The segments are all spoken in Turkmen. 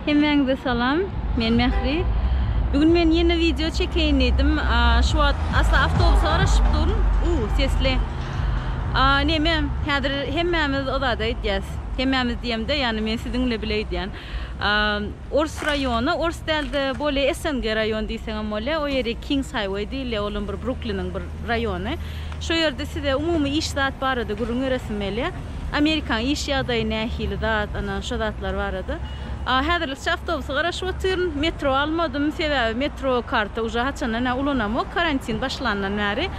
Hemmäňize salam. Men Mähri. Bu gün men ýene wideo çekeýin diýdim. Şu wagt asla awtobusa garaşyp durun. U, sesli. Näme, häzir hemmämiz o zady aýdýas. Hemmämiz diýemde, ýagny men siziň bilen bile aýdýan. Ors raýony, ors däl-de, bolýa SNG raýony diýseňem bolýar. O ýeri Kings Highway diýilýär, olam bir Brukliniň bir raýony. Şo ýerde size umumy iş zat barada gürrüň beresim gelýär. Amerikanyň iş ýagdaýy nähili zat, ana, şo zatlar barada. A, häzirlikçe awtobusy garaşyp otyryn. Metro almadym, sebäbi metro karty uje haçandan ä ulanamok, karantin başlandan bäri.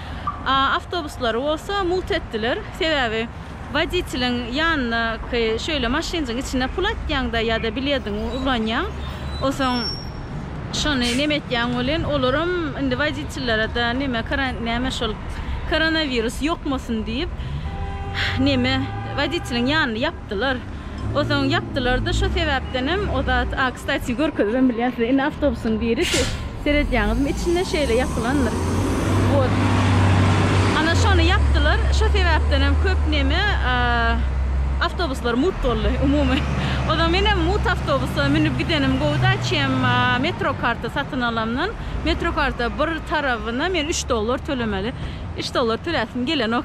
A, awtobuslary bolsa mugt etdiler, sebäbi. Woditeliň ýanyndaky şeýle maşynjyň içine pul atýaňda ýa-da bilediňi ulanýaň. Onsoň şony neme etýäň welin, olaram indi woditellerede neme karan name şol koronawirus ýokmasyn diýip neme woditeliň ýanyny ýapdylar. Ozaň ýapdylarda şo sebäpdenem o zat a kstati görkezibem bilýän size indi awtobusyň biri siz seredýäňizmi içinde şeýle ýapylandyr wot ana şony ýapdylar şo sebäpdenem köp neme a awtobuslar mut boldy umumy ozaň menem mut awtobusa münüp gidenim gowuda çem a metro karta satyn alamdan metro karta bir tarabyna men üç dollar tölemeli üç dollar töläsim gelenok.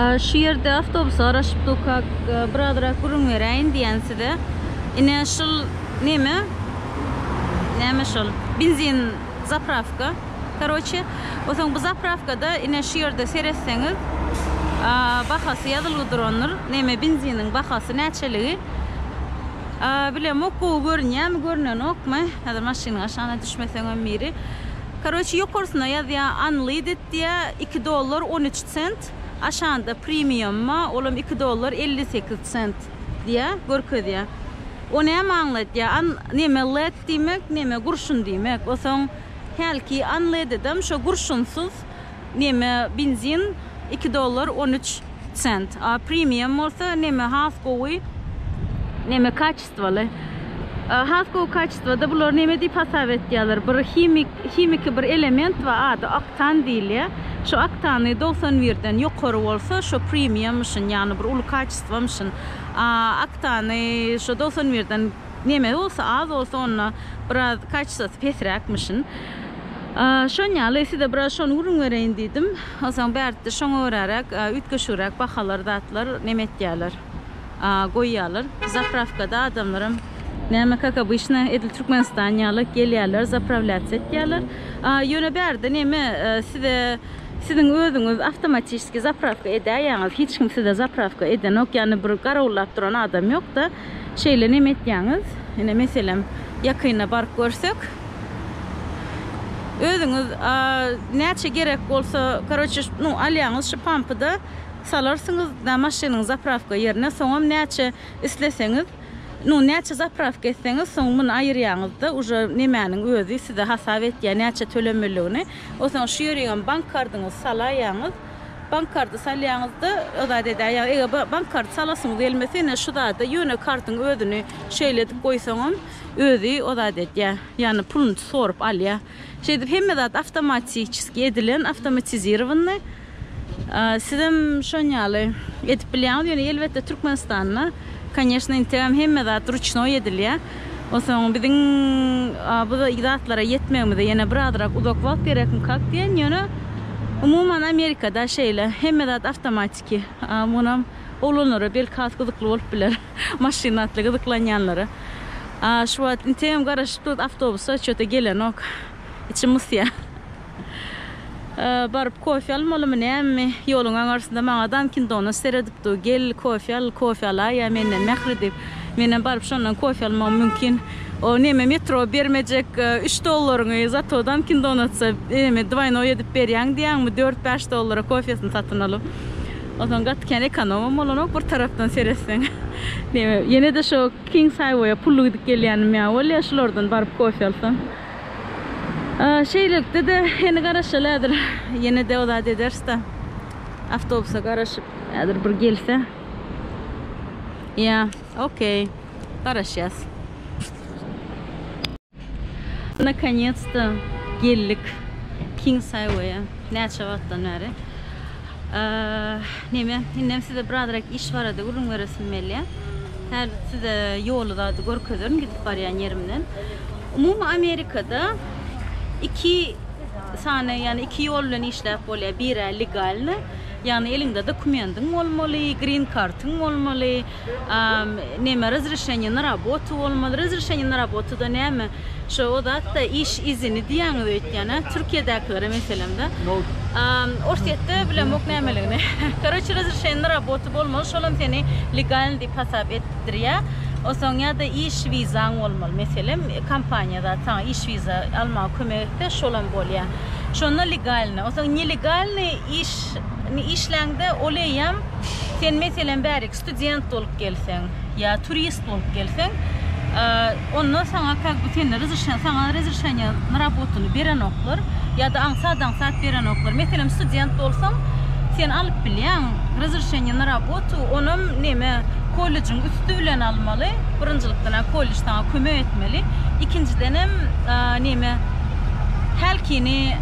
Şu ýerde awtobusy garaşyp dukak, birazrak gürrüň beräýin diýen size. Ine şul neme? Näme şol? Benzin zapravka. Karoçe, osaň bu zapravkada ine şu ýerde seretseňiz, bahasy ýazylygy durandyr. Neme benziniň bahasy näçeligi. Bilemok gowy görünýärmi, görnenokmy. Häzir maşynyň aşagyna düşmeseňem biri. Karoçi ýokarsyna ýazýa unleaded diýä iki dollar on üç sent aşanda primiumma olam iki dollar elli sekiz sent diýä görkezýä o näme aňladýa an neme led diýmek neme gurşun diýmek osaň hälki unleadedem şo gurşunsyz Neme benzin iki dollar on üç sent a premium bolsa neme has gowy neme kaçestwaly a has gowy kaçestwada bular neme diýip hasap etýärler bir himik himiki bir element bar ady oktan diýilýär şu oktany dogsan birden ýokary bolsa şo premium müşin ýagny bir uly kaçestwa müşin a oktany şo dogsan birden neme bolsa az bolsa onda biraz kaçestwasy pesräk müşin. Şon ýaly, size biraz şony gürrüň bereýin diýdim. Onsoň bärde şoňa göräräk, üýtgeşigräk bahalar, zatlar neme etýärler, goýýarlar. Zaprawkada adamlaram, näme, kak obyçna, edil Türkmenistan ýaly, gelýärler, zaprawlýatsiýa etýärler. Ýöne bärde neme, size, siziň özüňiz awtomatiçeskiý zaprawka edäýýäňiz, hiç kim size zaprawka edenok, ýagny bir garawullap duran adam ýok-da. Şeýle neme etýäňiz? Ine meselem ýakynda baryp görsek. Özüňiz näçe gerek bolsa karoçe nu alýaňyz şu pampyda salarsyňyz da maşynyň zaprawka ýerine soňam näçe isleseňiz nu näçe zaprawka etseňiz soň muny aýyrýaňyzda uje nemäniň özi size hasap etýä näçe tölemelidigini osaň şu ýeriňem bank kardyňyz salaýaňyz. Bank karty salýaňyzda o zat edýär. Ýa eger bank karty salasyňyz gelmese, ine şu zada ýöne kartyň özüni şeýle edip goýsaňam, özi o zat edýär. Ýagny puluny sorup alýar. Şeýdip hemme zat awtomatiçeski edilen, awtomatizirowanyý. Sizem şon ýaly edip bilýäňiz. Ýöne elbetde Türkmenistanda, koneşne, inteam hemme zat ruçnoý edilýär. Onsoň biziň bu zatlara ýetmegimize ýene birazrak uzak wagt gerekmikak diýen, ýöne umuman Amerikada şeýle, hemme zat awtomatiki. Munam oglanlara belki has gyzykly bolup biler, maşyn atly gyzyklanýanlara. Şu wagt inteýem garaşyp durus, awtobuslar çöte gelenok. Içim ysýar. Baryp kofe almalymy nämemi? Ýoluň aňarsynda maňa Dankin Donuts seredip dur, Gel, kofe al, kofe alaýa menden mähri diýip. Menem baryp şondan kofe almagym mümkin. O neme metro bermejek üç dollaryňy, zato Dankin Donutsa neme dwaýnoý edip berýäň diýýäňmi, dört-bäş dollara kofesini satyn alyp. Onsoň gaty kän ekonomam bolanok bir tarapdan seretseň. Neme, ýene-de şo Kings Haýweýe pully gidip gelýänim ýaly bolýar, şulardan baryp kofe alsam. Şeýlelikde-de heni garaşaly häzir ýene-de o zat ederis-de. Awtobusa garaşyp häzir bir gelse. Ýa, okey. Garaşýas. Nakonyets-de geldik Kings Highway-a. Näçe wagtdan bäri. Neme, indem size birazrak iş barada gürrüň beresim gelýär. Häzir size ýoly zady görkezerin gidip barýan ýerimden. Umumy Amerikada iki sany, ýagny iki ýol bilen işläp bolýar. Biri legalny, ýagny eliňde dokumendiň bolmaly, green kartyň bolmaly, neme razrešeniýe na rabotu bolmaly. Razrešeniýe na rabotu-da näme? Şo o zat-da iş izini diýýäňiz öýtýän-ä, Türkiýedäkilere meselem-de. Orsýetde bilemok nämeligini. Karoçi razrešeniýe na rabotu bolmaly, şolam seni legalny diýip hasap et. etdirýär. Onsoň ýa-da iş wizaň bolmaly. Meselem, kompaniýa zat saňa iş wiza almaga kömek etse, şolam bolýar. Şonda legalny. Onsoň nelegalny iş işläňde, ol eýýäm sen meselem bäriki student bolup gelseň ýa turist bolup gelseň, Onda saňa kak by sende rzrşen saňa rezrşenýe na rabotuny berenoklar ýa-da aňsat-aňsat berenoklar. Meselem, student bolsaň, sen alyp bilýäň rzrşenýe na rabotu, onam neme, kollejiň üsti bilen almaly, birinjilikden-ä kollej saňa kömek etmeli, ikinjidenem, neme, hälkini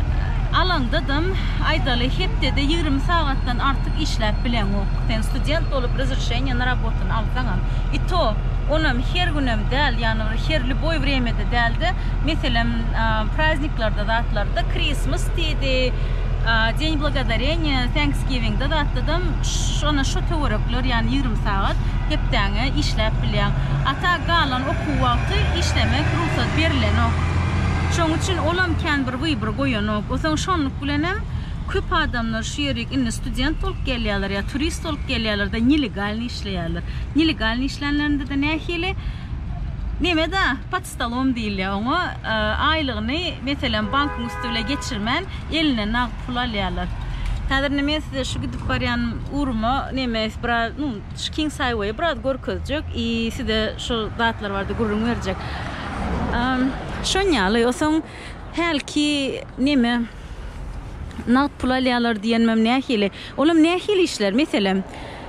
alaňdadam, aýdaly, hepdede ýigrimi sagatdan artyk işläp bileňok. Sen student bolup rzrşenýe na rabotuny alsaňam. I to, onam her günem däl, ýagny bir her lýuboý wremýede däl-de, meselem, prazniklarda zatlarda, Krismas diýdi, Deň blagodareniýa, Täňkisgiwingde zatdadam ş-ş ana şo töwerekler, ýagny ýigrimi sagat hepdäňe işläp bilýäň. A ta galan okuw wagty işlemek rugsat berilenok. Şoň üçin olam kän bir wybor goýanok. Osaň şonluk bilenem köp adamlar şu ýerik indi student bolup gelýärler ýa turist bolup gelýärler-de, nelegalnyý. işleýärler. Nelegalny işlänlerinde-de nähili? Nemede, pod stolom diýilýär oňa. Aýlygyny, meselem, bankyň üsti bile geçirmän, eline nagt pul alýarlar. Häzir indi men size şu gidip barýan ugruma neme biraz, nu, şu King Saýweýi biraz görkezjek i size şu zatlar barada gürrüň berjek. Şon ýaly. Osaň hälki neme, nagt pul alýarlar diýenmem nähili? Olam nähili işler? Meselem.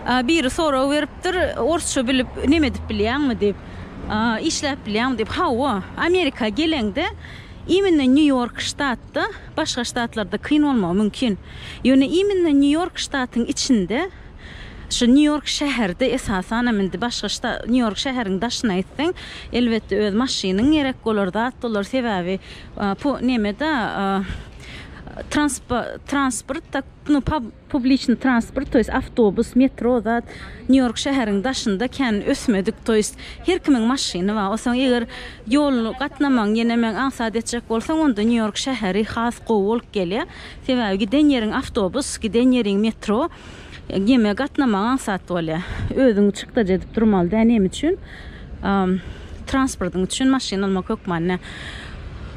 A biri sorag beripdir, orsça bilip neme edip bilýäňmi diýip, işläp bilýäňmi diýip. Hawa, Amerika geleňde immine Nýu-Ýork ştatda, başga ştatlarda kyn bolmagy mümkin. Ýöne immine Nýu-Ýork ştatyň içinde, şu Nýu-Ýork şäherde esasan hem indi başga şta, Nýu-Ýork şäheriň daşyna gitseň, elbetde öz maşynyň gerek bolar, zat bolar, sebäbi po, neme-de, transpa, transport, tak, nu, pa, Publiçny transport, to ýest awtobus, metro zat Nýu-Ýork şäheriň daşynda kän ösmedik, to ýest her kimiň maşyny bar. Onsoň eger ýol gatnamagyň ýene meň aňsat etjek bolsaň onda Nýu-Ýork şäheri has gowy bolup gelýä. Sebäbi giden ýeriň awtobus, giden ýeriň metro, geme gatnamagyň aňsat bolýa. Özüňi çykdajy edip durmaly dä neme üçin? Transportyň üçin maşyn almak hökmanda.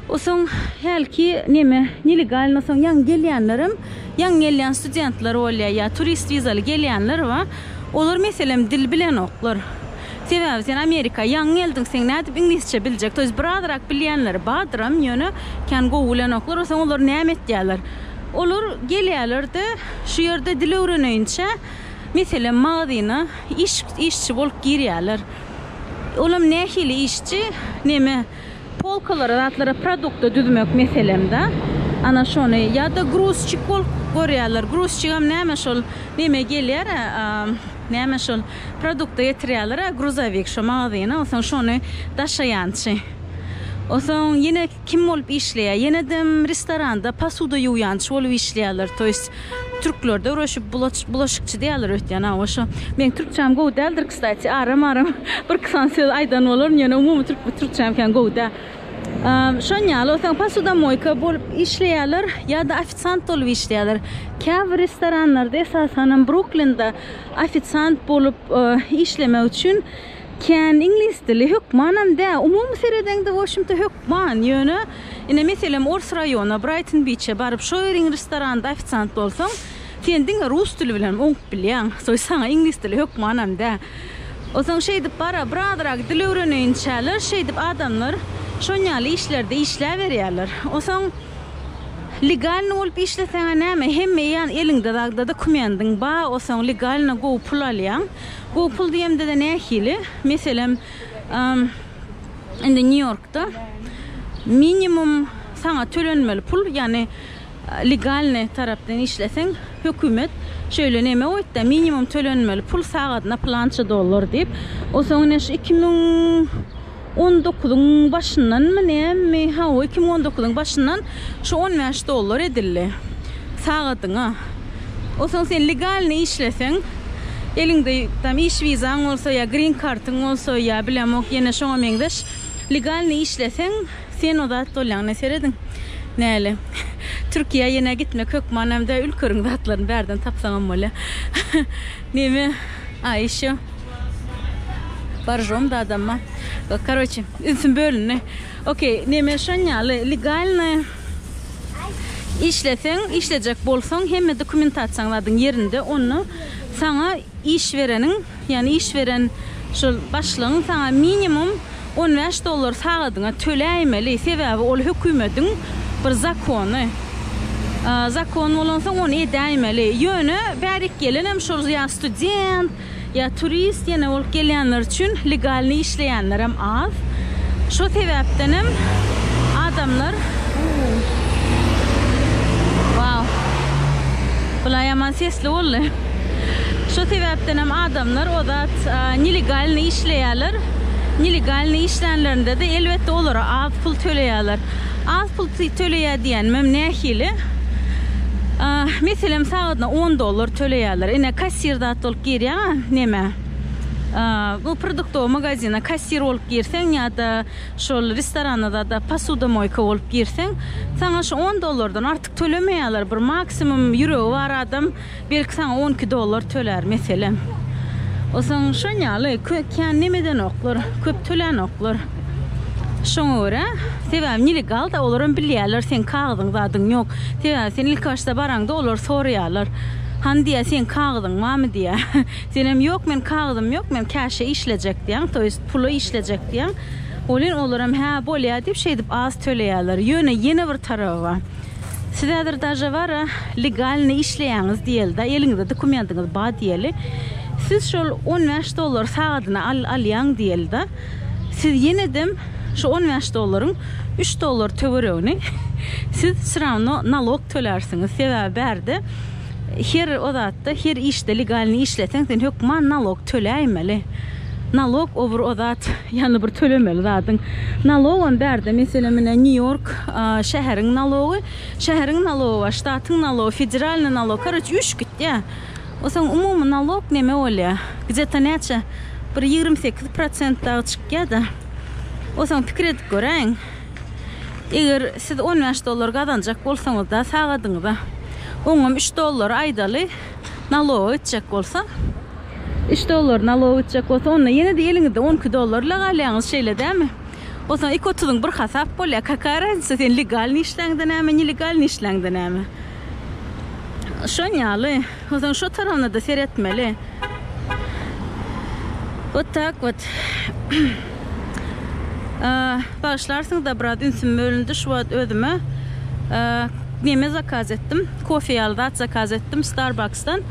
O soň hälki neme nelegalno soň ýaňy gelýänlerem, ýaňy gelýän studentler bolýar ýa turist wizaly gelýänler bar. Olar meselem dil bilenoklar. Sebäbi sen Amerika ýaňy geldiň, seň nädip iňlisçe biljek? To ýest bir azrak bilýänleri bardyram, ýöne kän gowy bilenoklar. O soň olar näme etýärler? Olar gelýärler-de, şu ýerde dil öwreneýinçä meselem magazyna, Iş, işçi bolup girýärler. Olam nähili işçi, neme, polkalara, zatlara produkty düzmek meselemda, ana şony, ýa-da gruzçik bolup görýärler. Gruzçigem näme şol, neme gelýär-ä, näme şol, produkty getirýärler-ä, gruzowik, şo magazyna, onsoň şony daşaýançy. Onsoň ýene. Kim bolup işleýär ýenedem restoranda pasuda ýuwýançy bolup işleýärler to ýest türklerde öwreşip bulaç bulaşykçy diýýärler öýtýän hawa şo meň türkçäm gowy däldir kstati aram aram bir kysany söz aýdan bolaryn ýöne umumy türk türkçäm kän gowy däl şon ýaly olsaň pasudamoýka bolup işleýärler ýada ofisant bolup işleýärler käbir restoranlarda esasanam bruklinde ofisant bolup işlemek üçin Kän iňlis dili hökmanam dä, umumy seredeňde washmta hökman, ýöne ine meselem ors raýona, Braýton Biçe baryp şo ýeriň restoranda ofisiant bolsaň, sen diňe rus dili bilenem oňup bilýäň, soň saňa iňlis dili hökmanam dä. Onsoň şeýdip bara birazrak dil öwreneýinçäler şeýdip adamlar şonýaly işlerde işläberýärler. Onsoň legalny bolup işleseňä näme hemme ýan eliňde zagda dokumendiň ba, onsoň legalny gowy pul alýaň. Bu pul diýemde-de nähili? Meselem, indi Nýu-Ýorkda minimum saňa tölenmeli pul, ýagny legalnyý tarapdan işleseň, hökümet şeýle neme goýupdy, minimum tölenmeli pul sagadyna plança dollar diýip. Onsoň ine şu iki müň. On dokuzyň başyndanmy nämi, ha, iki müň on dokuzyň başyndan şu on bäş dollar edildi sagadyňa. O soň sen legalny işleseň, eliňde tam iş wizaň bolsa ýa green kartyň bolsa ýa bilemok ýene şoňa meňzeş legalny işleseň sen o zat bolýaň. Ine serediň näle. Türkiýä ýene gitmek hökmanam däl, ülkeriň zatlaryny bärden tapsaňam bolýar. Meme Aişo Baržom dadamma karoçe ünsüm bölündi ok neme şonyaly legalny işleseň işlejek bolsaň hemme dokumentasiýaň zadyň ýerinde onda saňa iş bereniň ýagny iş beren şol başlygyň saňa minimum on bäş dollar sagadyňa töläýmeli, sebäbi ol hökümetiň bir zakony. Zakon bolansoň ony edäýmeli. Ýöne bärik gelenem şol ýa student, ýa turist ýene bolup gelýänler üçin legalnyý işleýänlerem az. Şo sebäpdenem adamlar Wau. Bulaý ýaman sesli boldy. Şo sebäpden hem adamlar o zat nelegalnyý işleýärler. Nelegalnyý işlänlerinde-de elbetde olara az pul töleýärler. Az pul töleýär diýenimem nähili? Meselem sagadyna on dollar töleýärler. Ine kassir zat bolup girýäňä nämä? Bu produktowy magazina kassir bolup girseň ýa-da şol restorana zada posudomoýka bolup girseň saňa şu on dollardan artyk tölemeýärler. Bir maksimum ýüregi bar adam Belki saňa on iki dollar tölär meselem. Osaň şon ýaly kän neme edenoklar, köp tölänoklar. Şoňa görä, sebäbi nelegalda olaram bilýärler seň kagyzyň zadyň ýok. Sebäbi sen ilki başda baraňda olar soraýarlar. Hany diýýär seň kagyzyň barmy diýýär. Senem ýok men kagyzym ýok men käşe işlejek diýýäň, to ýest pula işlejek diýýäň. Welin olaram hä bolýar diýip şeýdip az töleýärler. Ýöne ýene bir taraby bar. Siz häzir daže bar a legalny işleýäňiz diýelida eliňizde dokumentiňiz bar diýeli siz şol on bäş dollar sagadyna al alýaň diýelida siz ýenedem şu on bäş dollaryň üç dollar töweregini siz sravno nalok tölärsiňiz sebäbi bärde Her o zatda, her işde legalnyý işleseň sen hökman nalog töläýmeli. Nalog o bir o zat, ýagny bir tölemeli zadyň. Nalogam bärde meselem ine Nýu-Ýork şäheriň nalogy, şäheriň nalogy bar, ştatyň nalogy, federalnyý nalog, karoç üýşüp gitýä. O soň umumy nalog neme bolýa? Gde-to näçe? Bir ýigrimi sekiz prosent dagy çykýa-da. O soň pikir edip göräýiň. Eger siz on bäş dollar gazanjak bolsaňyzda sagadyňyza oňam üç dollary aýdaly naloga gitjek bolsa üç dollary naloga gitjek bolsa onda ýene-de eliňizde on iki dollar ile galýaňyz şeýle dämi? Osaň iki otuzyň bir hasap bolýa kaka raznica sen legalny işläňde näme nelegalny işläňde näme? Şon ýaly. Onsoň şo tarabyna-da seretmeli. Wot tak wot. Bagyşlarsyňyz-da biraz ünsüm bölündi şu wagt özüme. Neme zakaz etdim? Kofe ýaly zat zakaz etdim Starbucksdan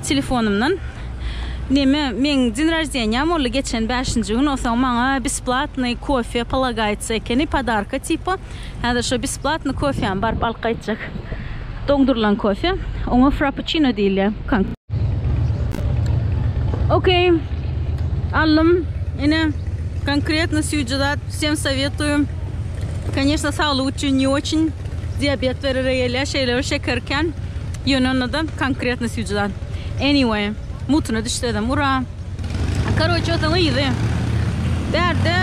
telefonymdan. Neme, meň din roždeniýam boldy geçen bäşinji gün, onsoň maňa besplatnyý kofe polagaýtsa ekeni, podarka tipa. Häzir şo besplatny kofýam baryp alyp gaýtjak. Doňdurylan kofe. Oňa frappuçino diýilýär. Okey. Aldym. Ine, konkretno süýji zat. Wsem sowetую. Koneçno, saglyk üçin ne oçin. Diabet berere gelýär. Şeýle-ä şeker kän. Ýöne onda-da konkretno süýji zat. Anyway, mutyna düşsezem, ura! Karoçe otaň yzy. Bärde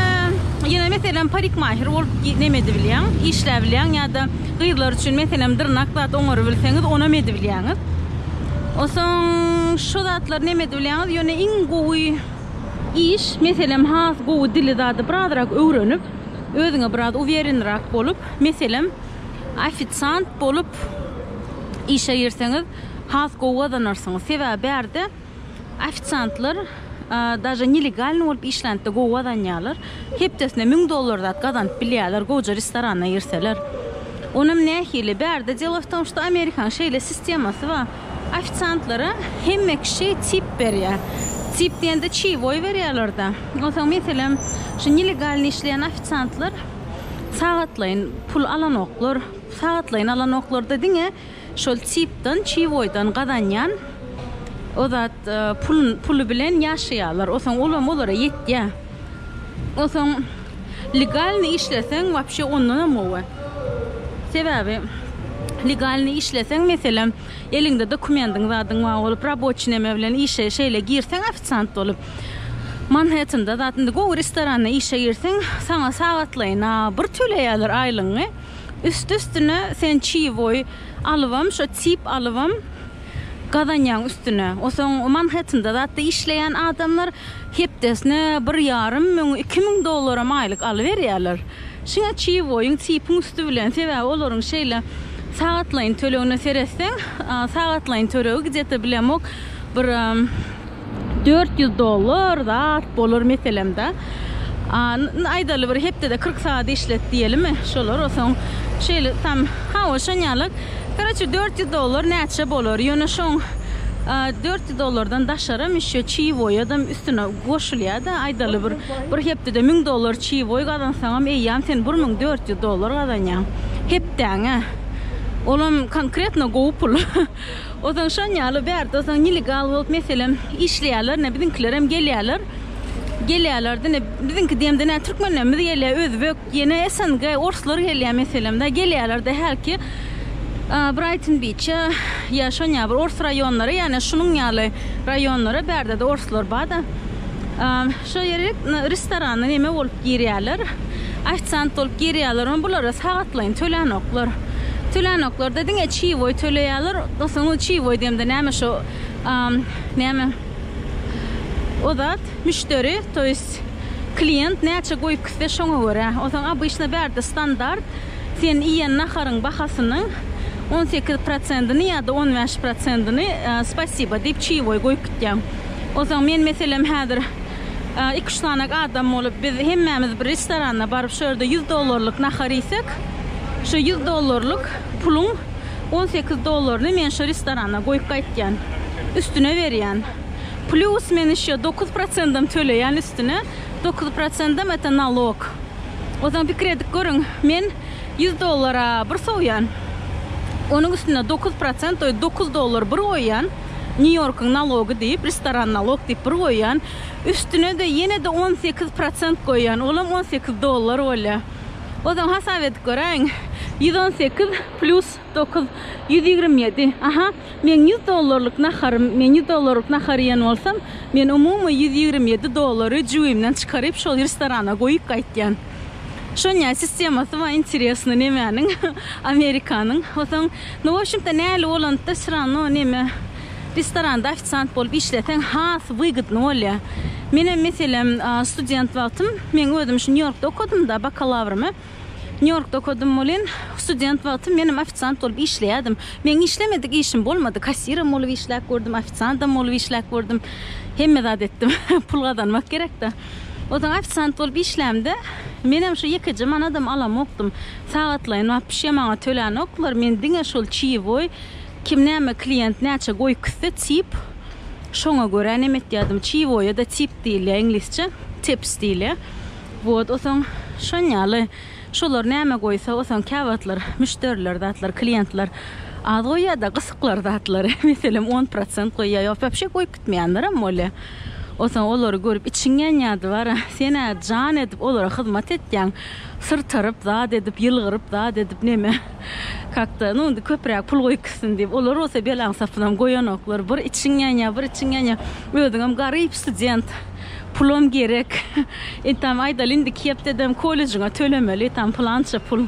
ýene meselem parikmahir bolup neme edip bilýäň, işläp bilýäň ýa-da gyzlar üçin meselem dyrnak zat oňaryp bilseňiz, onam edip bilýäňiz. Osoň şu zatlar neme edip bilýäňiz, ýöne iň gowy iş, meselem has gowy dili zady birazrak öwrenip, özüňe biraz uwýerinrak bolup, meselem ofisiant bolup işe girseňiz, has gowy gazanarsyňyz. Sebäbi bärde. Ofisiantlar daže nelegalny bolup işlände gowy gazanýarlar. Hepdesine müň dollar zat gazanyp bilýärler gowja restorana girseler. Onam nähili? Bärde delo w tom, što Amerikanyň şeýle sistemasy bar. Ofisiantlara hemme kişi tip berýär. Tip diýende çiýwoý berýärler-de. Onsoň meselem şu nelegalny işleýän ofisiantlar sagatlaýyn pul alanoklar. Sagatlaýyn alanoklarda diňe. Şol tipdan çiwoýdan gazanýan o zat puly bilen ýaşaýarlar. Osoň olam olara ýetýä. Osoň legalny işleseň wapşe ondanam gowy. Sebäbi legalny işleseň meselem eliňde dokumendiň zadyň bar bolup raboçi neme bilen işe şeýle girseň ofisiant bolup Manhettanda zat indi gowy restoranda işe girseň saňa sagatlaýyna bir töleýärler aýlygyňy. Üsti-üstüne sen çiwoý alybam, şo çip alybam gazanýaň üstüne. Osoň Manhettende zatda işleýän adamlar hepdesine bir ýarym müň, iki müň dollaram aýlyk alyberýärler. Şiňe çiwoýyň, çipiň üsti bilen, sebäbi olaryň şeýle sagatlaýyn tölegine seretseň, sagatlaýyn tölegi gidýete bilemok, bir. 400 dollar zat bolar meselemde. Aýdaly bir hepdede 40 saat işlet diýelimi, şolar osaň şeýle tam hawa şonýaly. Karaçe 400 dollar näçe bolar? Ýöne şoň 400 dollardan daşaram işe çiwoýadam üstüne goşulýada. Aýdaly bir bir hepdede 1000 dollar çiwoý gazansaňam eýýäm sen 1400 dollar gazanýaň hepdäňe. Olam konkretno gowy pul. Ozaň şon ýaly bärde ozaň nelegal bolup meselem işleýärler ine biziňkilerem gelýärler gelýärler dine biziňki diýemde nä türkmenlerimiz gelýär özbek ýene SNG orslar gelýär meselem da gelýärler de hälki Braýton biçe ýa şon ýaly bir ors raýonlary ýane şunuň ýaly raýonlara bärdede orslar bada. Şo ýere restorana neme bolup girýärler? Ofisant bolup girýärlermi? Bulara sagatlaýyn tölänoklar. Tölänoklar-da, diňe çiýboý töleýärler. Dostuň özi çiýboý diýemde näme şo, näme o zat, müşderi, to ýest klient näçe goýup gitse şoňa görä. Onsoň obyçna bärde standart, sen iýen naharyň bahasynyň on sekiz prosentini ýa-da on bäş prosentini spasiba diýip çiýboý goýup gitýäň. Onsoň men meselem häzir iki-üç sanak adam bolup biz hemmämiz bir restorana baryp şu ýerde ýüz dollarlyk nahar iýsek, şu ýüz dollarlyk puluň on sekiz dollaryny men şu restorana goýup gaýtýan. Üstüne berýän. Plýus men ýeşe dokuz prosendem töleýän üstüne. Dokuz prosendem eta nalog. Onsoň pikir edip görüň, men ýüz dollara bir sowýan. Onuň üstüne dokuz prosent, dokuz dollar bir goýýan. New Yorkyň nalogy diýip restoran nalog diýip bir goýýan üstünede ýenede on sekiz prosent goýýan olam on sekiz dollar bolýa ozal hasap edip göräýiň ýüz on sekiz plýus dokuz ýüz ýigrimi ýedi aha meň ýüz dollarlyk naharym men ýüz dollarlyk nahar iýen bolsam men umumy ýüz ýigrimi ýedi dollary jübimden çykaryp şol restorana goýup gaýtýan şonýa sistemasy bar interesny nemäniň amerikanyň osaň Nu wobşemta näli bolanda sranno neme restoranda ofisant bolup işleseň has wygdny bolýa. Menem meselem student wagtym men özüm şu Nýu-Ýorkda okadymda bakalawrymy Nýu-Ýorkda okadym welin student wagtym menem ofisant bolup işleýädim. Meň işlemedik işim bolmady kassirem bolup işläp gördüm ofisandam bolup işläp gördüm hemme zat etdim pul gazanmak gerekda. Ozal ofisant bolup işlämde, menem şu ýekeje manadam alamokdym. Sagatlaýyn bap bişýä maňa tölänoklar, men diňe şol çiýewoý, kim näme klient näçe goýy küsse, tip, şoňa görä neme etýädim. Çiýewoýa-da tip diýilýä, iňlisçe, tips diýilýä. Wot, otaň şon ýaly. Şolar näme goýsa osaň käwagtlar müşderiler zatlar kliýentler az goýýada gysyklar zatlary meselem on prosent goýýa ýok wapşe goýup gitmeýänlerem bolýa osaň olary görüp içiň ýanýady bara senä jan edip olara hyzmat etýäň syrtaryp zat edip ýylgyryp zat edip neme kakda nu indi köpräk pul goýup gitsin diýip olar bolsa belaň sapynam goýanoklar bir içiň ýanýa bir içiň ýanýa özüňem garyp student. Pulam gerek. Entam aýdaly indi iki hepdedem kollejiňe tölemeli tam pylança pul.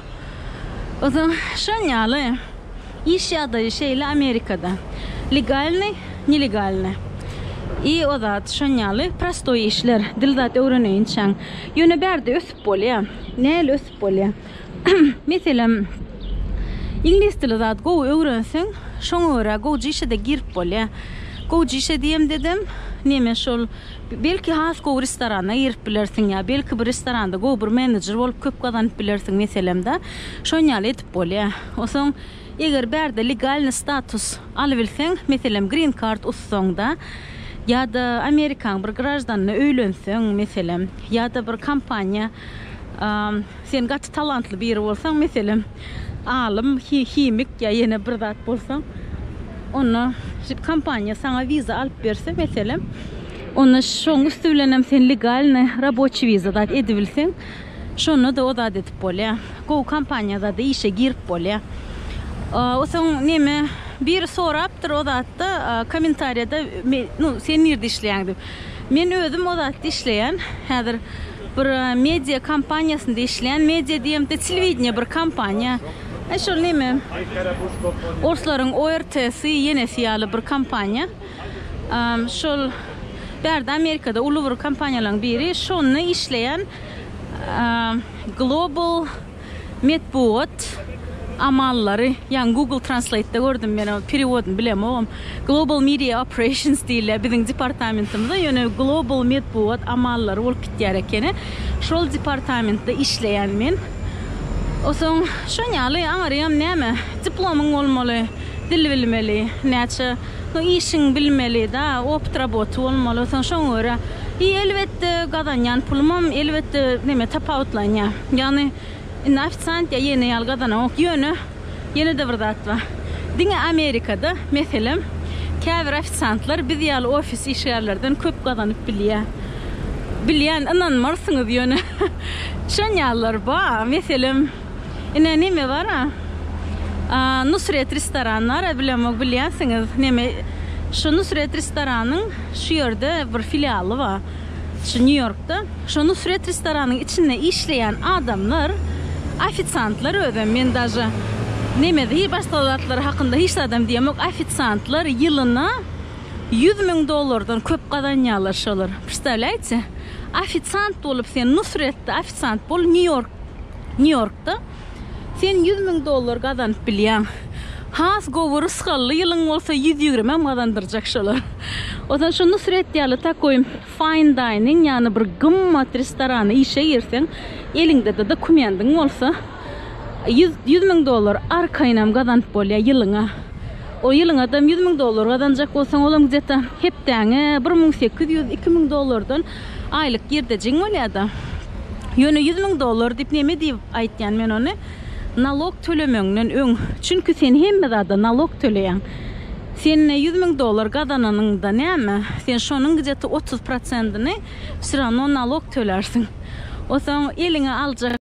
Ozan şon ýaly. Iş ýagdaýy şeýle Amerikada. Legalnyý, nelegalny. I o zat şon ýaly prostoý işler. Dil zat öwreneýinçäň. Ýöne bärde ösüp bolýa. Näl ösüp bolýa. Meselem, iňlis dili zat gowy öwrenseň, şoňa görä gowja işe-de girip bolýar. Gowja işe diýemdedem, neme şol, belki has gowy restorana girip bilersiň ýa belki bir restoranda gowy bir menejer bolup köp gazanyp bilersiň, meselem-de, şon ýaly edip bolýar. Onsoň, eger bärde legalny status alybilseň, meselem, green card utsaň-da ýa-da Amerikaň bir graždanyna öýlenseň, meselem, ýa-da bir kompaniýa, Sen gaty talantly biri bolsaň, meselem, alym, himik ýa ýene bir zat bolsaň, onda kompaniýa saňa wiza alyp berse, meselem, onda şoň üsti bilenem sen legalny raboçi wiza zat edibilseň, şonda-da o zat edip bolýar. Gowy kompaniýa zada işe girip bolýar. O soň neme, biri sorapdyr o zatda, kommentariýada, nu, sen nirde işleýäň diýip. Men özüm o zatda işleýän, häzir. Bir media kompaniýasynda işleýän. Media diýemde telewideniýe bir kompaniýa. E şol neme orslaryň ORT-sy, ýenesi ýaly bir kompaniýa. Şol bärde Amerikada uly bir kompaniýalaryň biri. Şonda işleýän. Global. Metbugat amallary, ýaňy Google Translate-de gördüm, men onuň perewodyny bilemogam. Global Media Operations diýilýär biziň departamentimize, ýöne Global Metbugat amallary bolup gitýär ekeni. Şol departamentde işleýän men. Osoň şon ýaly aňarýam näme, diplomyň bolmaly, dil bilmeli, näçe. Soň işiňi bilmeli da, opt roboty bolmaly. Soň şoňa görä i elbetde gazanýan pulumam elbetde neme tapawutlanýar. Ýagny indi ofisiant ýa ýene ýaly gazanamok. Ýöne ýene-de bir zat bar. Diňe Amerikada meselem käbir ofisiantlar biz ýaly ofis işgärlerden köp gazanyp bilýär. Bilýän ynanmarsyňyz ýöne şon ýalylar bar. Meselem. Ine neme bara Nusret restoran bara bilemok bilýänsiňiz neme şu Nusret restoranyň şu ýerde bir filialy bar şu Nýu Ýorkda şu Nusret restoranyň içinde işleýän adamlar ofisantlar özem men daže neme hi başga zatlar hakynda hiç zadam diýemok ofisantlar ýylyna ýüz müň dollardan köp gazanýarlar şolar prsdawlýaýte ofisant bolup sen Nusretde ofisant bol Nýu Ýork Nýu-Ýorkda. Sen ýüz müň dollar gazanyp bilýäň. Has gowy rysgally ýylyň bolsa ýüz ýigrimem gazandyrjak şolar. Ozan şu Nusret ýaly takoý fine dining, ýagny bir gymmat restorana işe girseň, eliňde-de dokumendiň bolsa, ýüz, ýüz müň dollar arkaýynam gazanyp bolýar ýylyňa. O ýylyňadam ýüz müň dollar gazanjak bolsaň, olam gde-ta hepdäňe bir müň sekiz ýüz, iki müň dollardan Aýlyk girdejiň bolýada. Ýöne ýüz müň dollar diýip neme diýip aýtýan men ony? Nalok tölemeňden öň. Çünki sen hemme zada nalok töleýäň. Sen ýüz müň dollar gazananyňda näme? Sen şonuň gideti otuz prosentini wsýrawno nalok tölärsiň. Osaň eliňe aljak.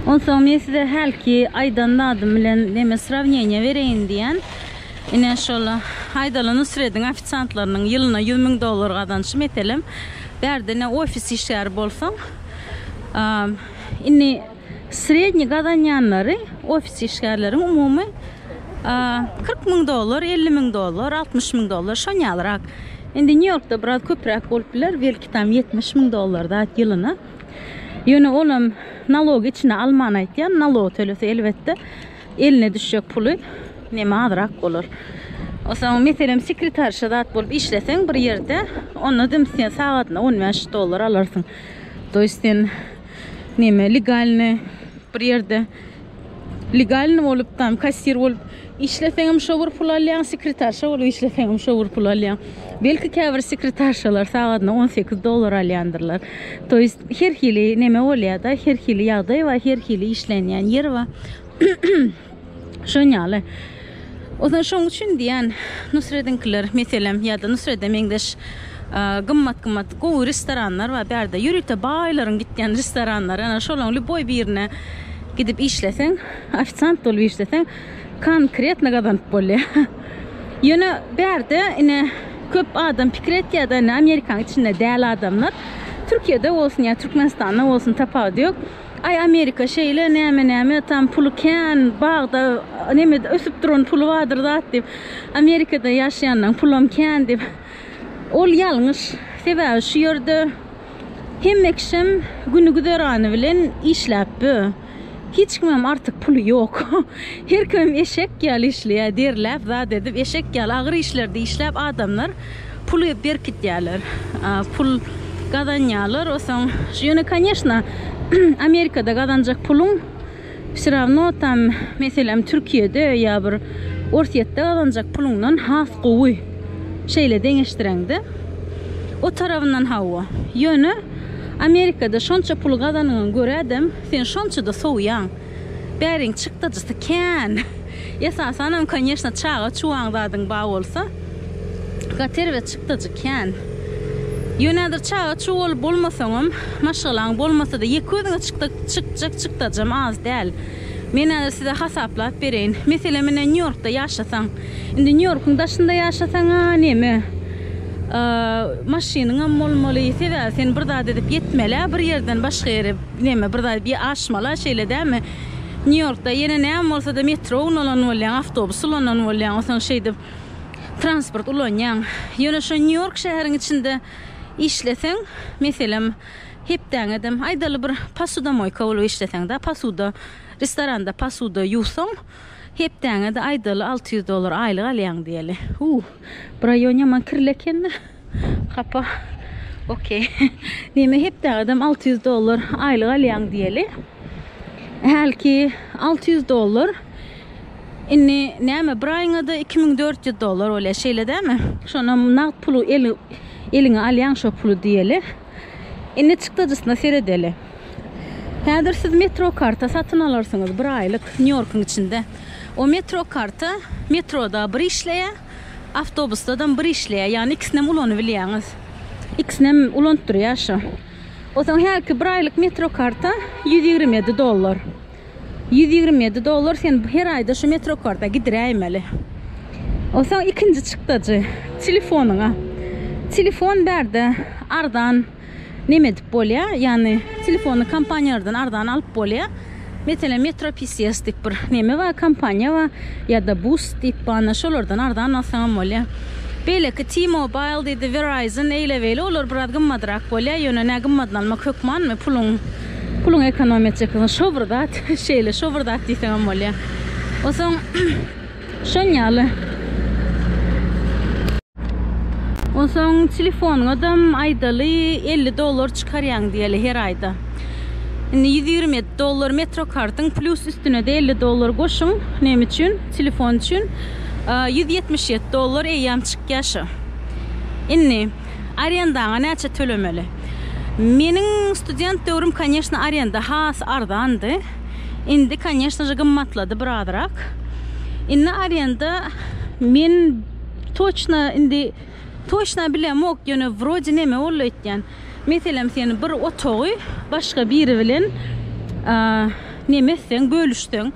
Onsoň men size hälki aýdan zadym bilen neme srawneniýe bereýin diýen. Ine şol Haýdala Nusrediň ofisiantlarynyň ýylyna ýüz müň dollar gazanşy meselem. Bärde ine ofis işgäri bolsaň, indi sredniý gazanýanlary ofis işgärleriň umumy kyrk müň dollar, elli müň dollar, altmyş müň dollar şon ýalyrak. Indi Nýu-Ýorkda biraz köpräk bolup biler, belki tam ýetmiş müň dollar zat ýylyna. Ýöne olam nalogy içine alman aýtýan, nalog tölese elbetde eline düşjek puly neme azrak bolar. Osaň meselem sekretarşa zat bolup işleseň bir ýerde, onda dim sen sagadyna on bäş dollar alarsyň. Toýst sen neme legalny bir ýerde Legalny bolup tam kassir bolup işleseňem şo bir pul alýaň, sekretarşa bolup işleseňem şo bir pul alýaň. Belki käbir sekretarşalar sagadyna 18 dollar alýandyrlar. To ýest her hili neme bolýar-da, her hili ýagdaý bar, her hili işlenýän ýer bar. Şon ýaly. Ozal şoň üçin diýýän, Nusrediňkiler, meselem, ýa-da Nusrede meňzeş gymmat-gymmat gowy restoranlar bar bärde. Ýörite baýlaryň gitýän restoranlary, ana, şolaryň lýuboý birine gidip işleseň, ofisiant bolup işleseň, konkretno gazanyp bolýar. Ýöne bärde, ine, köp adam pikir etýär-de, indi Amerikanyň içinde däl adamlar. Türkiýede bolsun ýa Türkmenistanda bolsun tapawudy ýok. Aý Amerika şeýle näme näme tam puly kän bagda neme ösüp duran puly bardyr zat diýip Amerikada ýaşaýanlaň pulam kän diýip ol ýalňyş sebäbi şu ýerde hemme kişem güni güzerany bilen işläp bö hiç kimem artyk puly ýok her kimem eşek ýaly işleýä derläp zat edip eşek ýaly agyr işlerde işläp adamlar Puly berkitýärler, pul gazanýarlar, osaň ýöne koneşna Amerikada gazanjak puluň wsýrawno tam meselem Türkiýede ýa bir Orsýetde gazanjak puluňdan has gowy şeýle deňeşdireňde. O tarabyndan hawa, ýöne Amerikada şonça pul gazanyňa görä-de sen şonça-da sowýaň. Bäriň çykdajysy kän. Esasanam konýeşna çaga çuwaň zadyň ba bolsa gater we çykdajy kän. Ýöne häzir çaga çuw bolup bolmasaňam maşgalaň bolmasada ýeke özüňe çykdak çykjak çykdajam az däl. Men häzir size hasaplap bereýin. Meselem menä Nýu-Ýorkda ýaşasaň. Indi Nýu-Ýorkuň daşynda ýaşasaň-a neme. Maşynyňam bolmaly. Sebäbi sen bir zat edip ýetmel-ä bir ýerden başga ýere. Neme bir zat bir aşmala şeýle dämi? Nýu Ýorkda ýene näme bolsada metro unanan bolýaň, awtobus ulanan bolýaň, onsoň şeýdip transport ulanýaň. Ýöne şo Nýu Ýork şäheriň içinde işleseň, meselem hepdäň edem aýdaly bir posudomoýka bolup işleseň-dä, posuda, restoranda posuda ýuwsaň, Hepdäňede aýdaly alty ýüz dollar aýlyk alýaň diýeli. Uuh. Bu raýon ýaman kirli ekende. Hapa. Okey. Diýme hepdäňedem alty ýüz dollar aýlyk alýaň diýeli. Hälki alty ýüz dollar. Indi näme bir aýyňada iki müň dört ýüz dollar bolýar şeýle dämi? Şonam nagt puly eliňe alýaň şo puly diýeli. Indi çykdajysyna seredeli. Häzir siz metro karta satyn alarsyňyz bir aýlyk Nýu-Ýorkuň içinde. O metro karta metroda bir işleýär, awtobusdadam bir işleýär. Ýagny ikisinem ulanybilýäňiz. Ikisinem ulantdyrýar şu. Osaň häki bir aýlyk metro karta ýüz ýigrimi ýedi dollar. Ýüz ýigrimi ýedi dollar sen her aýda şu metrokarta gidiräýmeli. Onsoň ikinji çykdajy telefonyňa. Telefon bärde arzan neme edip bolýa, ýagny telefony kompaniýalardan arzan alyp bolýa. Meselem Metro PCS diýip bir neme bar, kompaniýa bar ýa-da Boost diýip barna şolardan arzan alsaň hem bolýa. Beýleki T-Mobile diýdi, Verizon eýle-beýle olar biraz gymmadrak bolýa, ýöne nä gymmadyny almak hökmanmy, puluň Puluň ekonomiýa etjekdigini şo bir zat, şeýle şo bir zat diýseňem bolýar. Onsoň şonýaly. Onsoň telefonyňadam aýdaly elli dollar çykarýaň diýeli her aýda. Indi ýüz ýigrimi ýedi dollar metro kartyň plýus üstüne-de elli dollar goşuň, näme üçin? Telefon üçin ýüz ýetmiş ýedi dollar eýýäm çykýar şo. Indi. Arendaňa näçe tölemeli? Meniň student döwrüm koneşno arenda has arzandy. Indi koneşno je gymmatlady birazrak. Indi arenda. Men toçna indi toçna bilemok ýöne wrode neme boldy aýtýan. Meselem sen bir otagy başga biri bilen neme etseň bölüşseň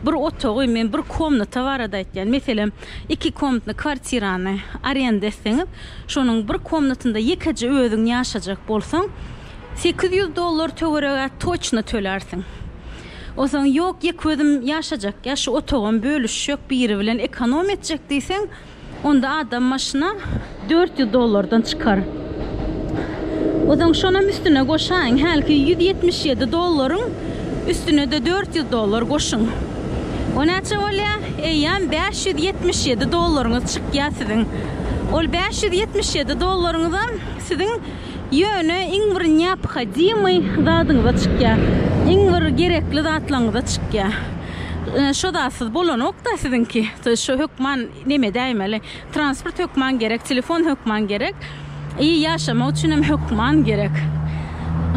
Bir otagy, men bir komnata barada aýtýan, meselem, iki komnatny kwartirany arenda etseňiz, şonuň bir komnatynda ýekeje özüň ýaşajak bolsaň, sekiz ýüz dollar töweregi-ä toçna tölärsiň. Onsoň, ýok, ýeke özüm ýaşajak, ýa şu otagam bölüşjek, biri bilen ekonom etjek diýseň, Onda adam başyna dört ýüz dollardan çykar. Ozaň şonam üstüne goşaýyň, hälki ýüz ýetmiş ýedi dollaryň üstüne-de dört ýüz dollar goşuň. O näçe bolýa? Eýýäm bäş ýüz ýetmiş ýedi dollaryňyz çykýa siziň. Ol bäş ýüz ýetmiş ýedi dollaryňyzam siziň ýöne iň bir neophodimyý zadyňyza çykýa, iň bir gerekli zatlaňyza çykýa. Şo zatsyz bolanokda siziňki. Şo hökman neme edäýmeli. Transport hökman gerek, telefon hökman gerek. I ýaşamak üçinem hökman gerek.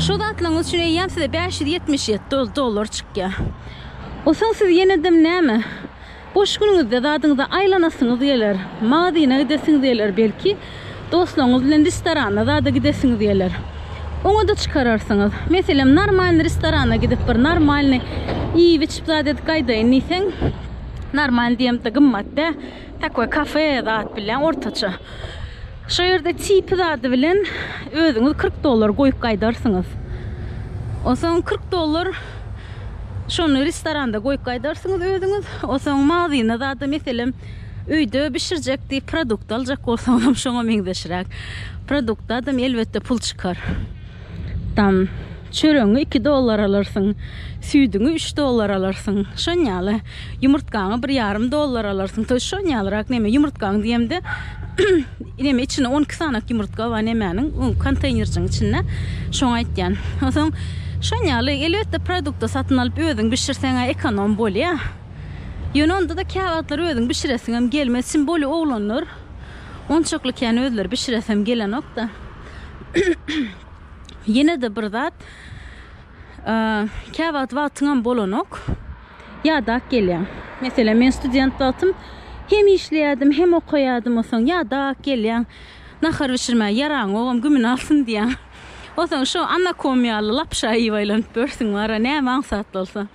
Şo zatlaryňyz üçin eýýäm size bäş ýüz ýetmiş ýedi dollar çykýar. Osaň siz ýenedem näme, boş günüňizde zadyňyza aýlanasyňyz geler, magazyna gidesiňiz geler belki. Dostlaryňyz bilen restorana zada gidesiňiz geler. Oňa-da çykararsyňyz. Meselem, normalny restorana gidip bir normalny iýip-içip zat edip gaýdaýyn diýseň, normalny diýemde gymmat dä, takoý kafe zat bilen ortaça. Şo ýerde tipi zady bilen özüňiz kyrk dollar goýup gaýdarsyňyz. Onsoň kyrk dollar şony restoranda goýup gaýdarsyňyz özüňiz. Onsoň magzyna zada meselem Öýde bişirjek diýip produkt aljak bolsaňam şoňa meňzeşräk produkt adam elbetde pul çykar. Tam çöregiňi iki dollar alarsyň, süýdüňi üç dollar alarsyň. Şon ýaly ýumurtgaňy bir ýarym dollar alarsyň. Toýy şon ýalyrak neme ýumurtgaň diýemde neme içinde on iki sanak ýumurtga bar nemäniň öň konteýnerjiň içinde şoňa aýtýan. Onsoň şon ýaly elbetde produkty satyn alyp özüň bişirseň-ä ekonom bolýa. Ýöne onda-da käwagtlar özüň bişiresiňem gelmez. Çyn boli oglanlar onçakly kän özleri bişiresem gelenok-da. Ýene-de bir zat, käwagt wagtyňam bolanok, ýadap gelýäň. Meselem, men student wagtym hem işleýärdim, hem okaýardym, onsoň ýadap gelýäň. Nahar bişirmäge ýaraňogam gümüň alsyn diýýäň. Onsoň şo anakom ýaly lapşa iýip aýlanyp ýörsüň, wara, näme aňsat bolsa.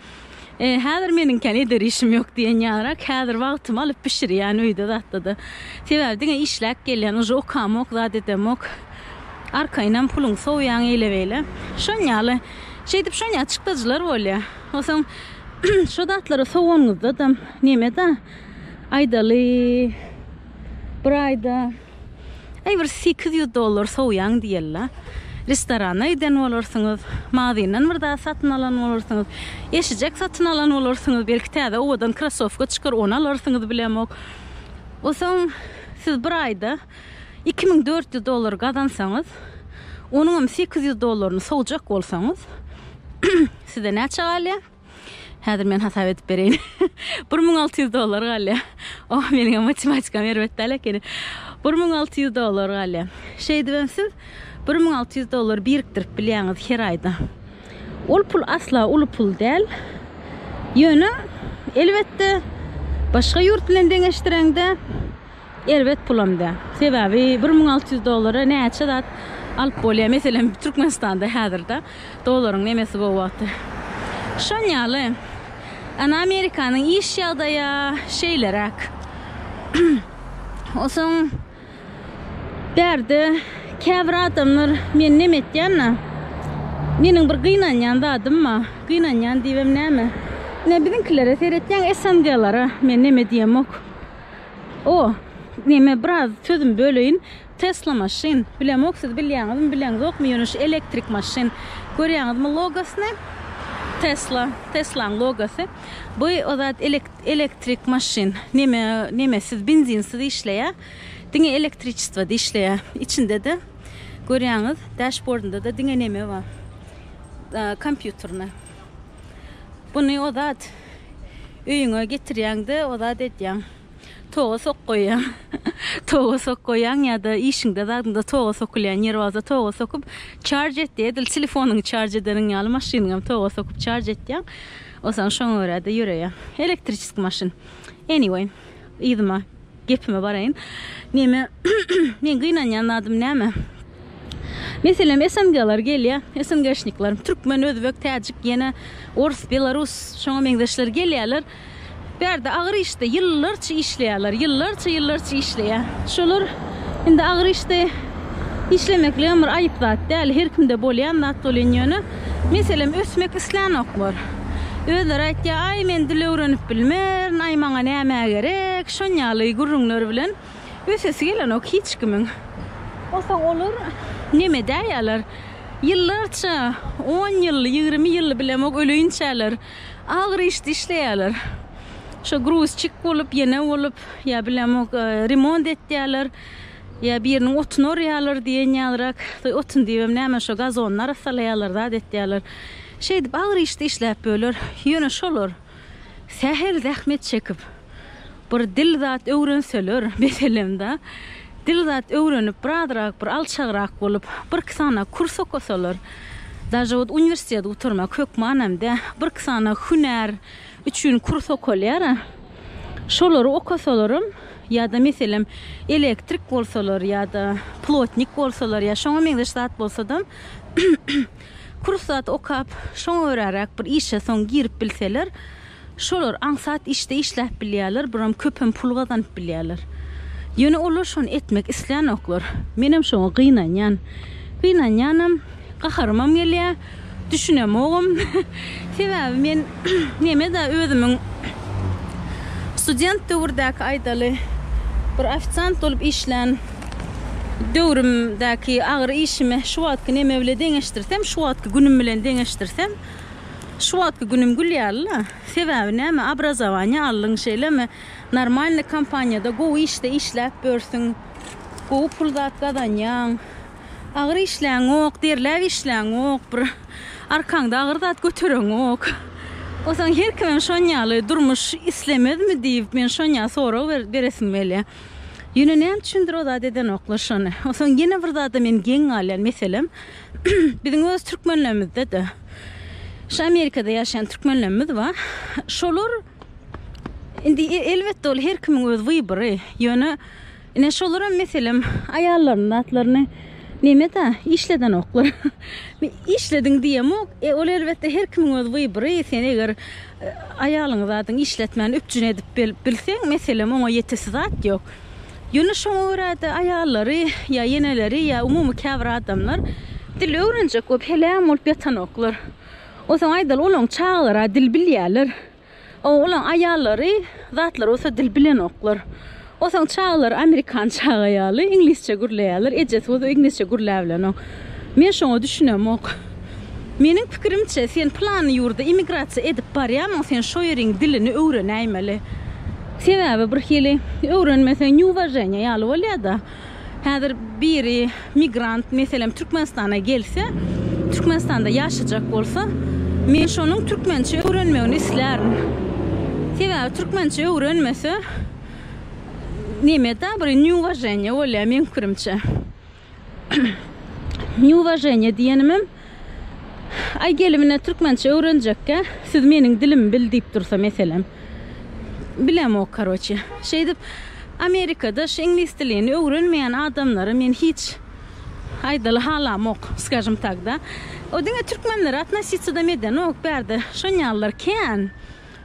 E, häzir meniňkän eder işim ýok diýen ýarak, häzir wagtymy alyp bişirýän öýde zatda-da. Sebäbi diňe işläp gelýän, uje okamok, zat edemok. Arkaýynam puluňy sowýaň eýle-beýle. Şoň ýaly, şeýdip şoň ýaly çykdajylar bolýar. Onsoň şu zatlary sowanyňyzda-da, neme-da, aýdaly, bir aýda Aý bir sekiz ýüz dollar sowýaň diýeli-la. Restorana giden bolarsyňyz, magazyndan bir zat satyn alan bolarsyňyz, eşijek satyn alan bolarsyňyz, belki täze owadan krossowka çykar, ony alarsyňyz bilemok. O soň siz bir aýda iki müň dört ýüz dollar gazansaňyz, onuňam sekiz ýüz dollaryny sowjak bolsaňyz, size näçe galýar? Häzir men hasap edip bereýin. Bir müň alty ýüz dollar galýar. Oh, meniňem matematikam erbet däl ekeni. Bir müň alty ýüz dollar galýar. Şeýdibem siz bir müň alty ýüz dollar birikdirip bilýäňiz her aýda. Ol pul asla uly pul däl. Ýöne, elbetde, başga ýurt bilen deňeşdireňde, Erbet pulam däl. Sebäbi bir müň alty ýüz dollara näçe zat alyp bolýar. Meselem, Türkmenistanda häzirda dollaryň nemesi gowy wagty. Şon ýaly. Ana Amerikanyň iş ýagdaýa şeýleräk. Osoň bärde käbir adamlar men neme etýän-na? Meniň bir gynanýan zadym ba. Gynanýan diýibem näme? Ine biziňkilere seretýäň SNG-lara men neme diýemok. O, neme biraz sözüm böleýin. Tesla maşyn. Bilemok siz bilýäňizmi, bileňzokmy, ýöne şu elektrik maşyn. Görýäňizmi logosyny? Tesla, Teslaň logosy. Bu o zat elektrik maşyn. Neme, nemesiz, benzinsiz işleýä. Diňe elektriçestwada işleýä. Içinde-de görýäňiz, dashbordynda-da diňe neme bar. Kompýuterna. Buny o zat Öýüňe getirýäň-de, o zat edýäň. Toga sok goýýaň. Toga sok goýýaň ýa-da işiňde, zadyňda toga sokulýan ýeri bolsa toga sokup çarj etýä, edil telefonyňy çarj edeniň ýaly maşynyňam toga sokup çarj etýäň. Onsoň şoňa görä-de ýöreýäň. Elektriçeskiý maşyn. Anyway, yzyma gepime baraýyn. Neme men gynanýan zadym näme? Meselem SNG-lar gelýär, SNG-şnikler, türkmen, özbek, täjik, ýene ors, belarus, şoňa meňzeşler gelýärler. Bärde agyr işde ýyllarça işleýärler, ýyllarça, ýyllarça işleýär. Şolar indi agyr işde işlemekligem bir aýyp zat däl, her kimde bolýan zat bolýan ýöne meselem ösmek islänoklar. Özleri aýtýar, Aý, men dil öwrenip bilmerin, aý, maňa näme gerek, şonýaly gürrüňler bilen ösesi gelenok hiç kimiň. Onsoň olar neme edäýýärler? Ýyllarça, on ýylly, ýigrimi ýylly bilemok öleýinçäler agyr işde işleýärler. Şo gruzçik bolup, ýene bolup, ýa bilemok remont etýärler. Ýa biriniň otuny orýarlar diýen ýalyrak, otun diýibem näme, şo gazonyny arassalaýarlar, zat etýärler. Şeýdip, agyr işde işläp böler. Ýöne şolar sähel zähmet çekip, bir dil zat öwrenseler, bes elem-da. Dil zat öwrenip, birazrak bir alçagrak bolup, birki sany kurs okasalar, daže ot uniwersitet gutarmak hökmanam dä, birki sany hünär, üçin kurs okalýar-a. Şolary okasalaram ýa-da meselem elektrik bolsalar ýa-da plotnik bolsalar ýa şoňa meňzeş zat bolsadam kurs zat okap şoňa göräräk bir işe soň girip bilseler şolar aňsat işde işläp bilýärler buram köpem pul gazanyp bilýärler. Ýöne olar şony etmek islänoklar. Menem şoňa gynanýan. Gynanýanam, gaharymam gelýä. Düşünemogum. Sebäbi men nemeda özümiň student döwürdäki aýdaly bir ofisiant bolup işlän döwrümdäki agyr işimi şu wagtky neme bile deňeşdirsem, şu wagtky günüm bilen deňeşdirsem, şu wagtky günüm gül ýaly-la. Sebäbi näme, obrazowaniýa aldyň, şeýlemi? Normalny kompaniýada gowy işde işläp börsüň, gowy pul zat gazanýaň. Agyr işläňok, derläp işläňok, bir arkaňda agyr zat götereňok. Onsoň her kimem şon ýaly durmuş islemezmi diýip, men şon ýaly sorag beresim gelýär. Ýöne näme üçindir o zat edenoklar şony. Onsoň ýene bir zada men geň galýan meselem, biziň öz türkmenlerimizde-de, şu Amerikada ýaşaýan türkmenlerimiz bar. Şolar indi elbetde ol her kimiň öz wybry, ýöne Ine şolaram meselem aýallarynyň zatlaryny nemeda işledenoklar. Işlediň diýemok. E ol elbetde her kimiň öz wybory. Sen eger aýalyňy zadyň işletmän üpjün edip bilseň meselem oňa ýetesi zat ýok. Ýöne şoňa görä-de aýallary ýa eneleri ýa umumy käbir adamlar dil öwrenjek bolup heleýan bolup ýatanoklar. Onsoň aýdaly olaň çagalary-a dil bilýärler. O olaň aýallary zatlar bolsa dil bilenoklar. Osaň çagalary amerikan çaga ýaly iňlisçe gürleýärler, ejesi bolsa iňlisçe gürläbilenok. Men şoňa düşünemok. Meniň pikirimçe sen pylany ýurda immigrasiýa edip barýamyň sen şo ýeriň dilini öwrenäýmeli. Sebäbi birhili öwrenmeseň neuwaženiýa ýaly bolýada. Häzir biri migrant, meselem, Türkmenistana gelse, Türkmenistanda ýaşajak bolsa, men şonuň türkmençe öwrenmegini islärin. Sebäbi türkmençe öwrenmese, neme-da bir neuwaženýe bolýar meň pikirimçe. Neuwaženýe diýenimem. Aý gelimine türkmençe öwrenjekkä siz meniň dilimi bil diýip dursa meselem. Bilemok karoçe. Şeýdip Amerikada şu iňlis dilini öwrenmeýän adamlary men hiç aýdaly halamok skažem tak da. O diňe türkmenlere atnosisadam edenok bärde şonýalylar kän.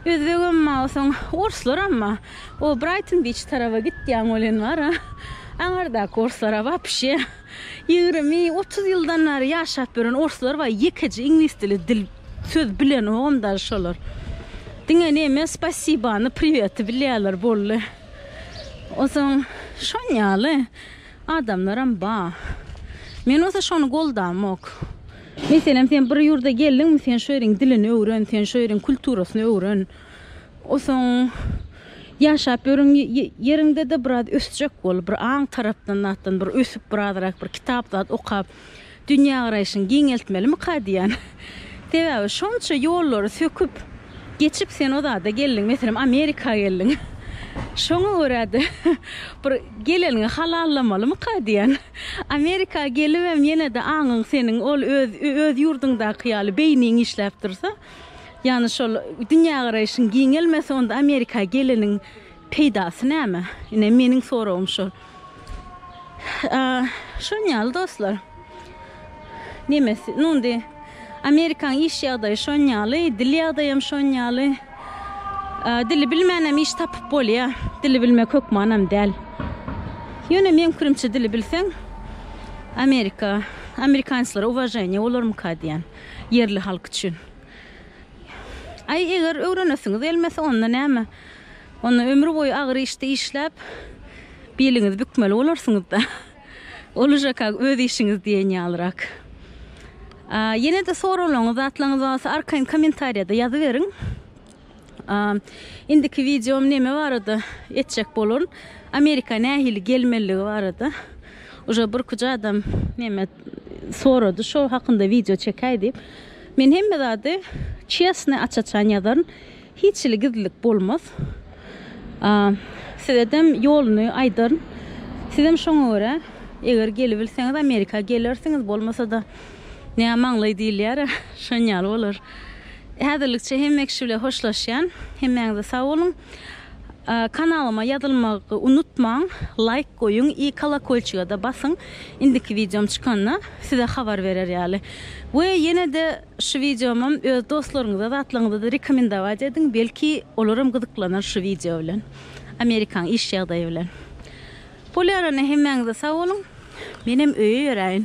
Özbegem ma soň orslaramma o Braýton Biç taraba gitýäň welin bara aňardaky orslara wapşe. Ýigrimi, otuz ýyldan bäri ýaşap ýören orslar bar, ýekeje iňlis dili dil söz bilenogam dal şolar. Diňe neme spasibany, priveti bilýärler boldy. Ozaň şon ýaly adamlaram ba. Men bolsa şony goldamok. Meselem sen bir ýurda geldiňmi sen şu ýeriň dilini öwren, sen şu ýeriň kulturasyny öwren. Osoň ýaşap ýören ýeriňde-de biraz ösjek bol, bir aň tarapdan zatdan bir ösüp, birazrak bir kitap zat okap, dünýägaraýşyňy giňeltmelimikä diýýän. Sebäbi şonça ýollary söküp, geçip sen o zada geldiň, meselem, Amerika geldiň. Şoňa görä-de, bir geleniňi halallamolymyka diýýän. Amerika gelibem ýene-de aňyň seniň ol öz öz ýurduňdaky ýaly beýniň işläp dursa, Ýagny şol dünýägaraýşyň giňelmese onda Amerika geleniň peýdasy näme? Ine meniň soragym şol. Şon ýaly dostlar. Nemes, nu indi Amerikaň iş ýagdaýy şon ýaly, dil ýagdaýam şon ýaly. Dili bilmänem iş tapyp bolýa. Dili bilmek hökmanam däl. Ýöne meň pikirimçe dili bilseň Amerika, amerikanislara uwaženiýa bolarmyka diýän. Ýerli halk üçin. Aý, eger öwrenesiňiz gelmese, onda näme? Onda ömür boýy agyr işde işläp, biliňizi bükmeli bolarsyňyz-da. Ol uža-ka öz işiňiz diýen ýalyrak. Ýene-de soralaňyz, zatlaryňyz barsa, arkaýyn kommentariýada ýazyberiň. Indiki videom neme barada etjek boluryn. Amerika nähili gelmeligi barada. Uje bir kuja adam neme sorady şo hakynda video çekäý diýip. Men hemme zady çesne aç-açan ýazaryn. Hiç hili gizlilik bolmaz. Sizedem ýoluny aýdaryn. Sizem şoňa görä eger gelibilseňiz Amerika gelersiňiz bolmasa-da nämaňlaý diýilýär-ä şonýaly bolar. Häzirlikçe hemme kişi bilen hoşlaşýan. Hemmäňize sag boluň. Kanalyma ýazylmagy unutmaň. Laýk goýuň i kolokolçigada basyň. Indiki wideom çykanda size habar berer ýaly. We ýenede şu wideomam öz dostlaryňyza zatlaryňyzada rekomendować ediň. Belki olaram gyzyklanar şu wideo bilen. Amerikaň iş ýagdaýy bilen. Bolýar ene hemmäňize sag boluň. Menem öýe ýöräýin.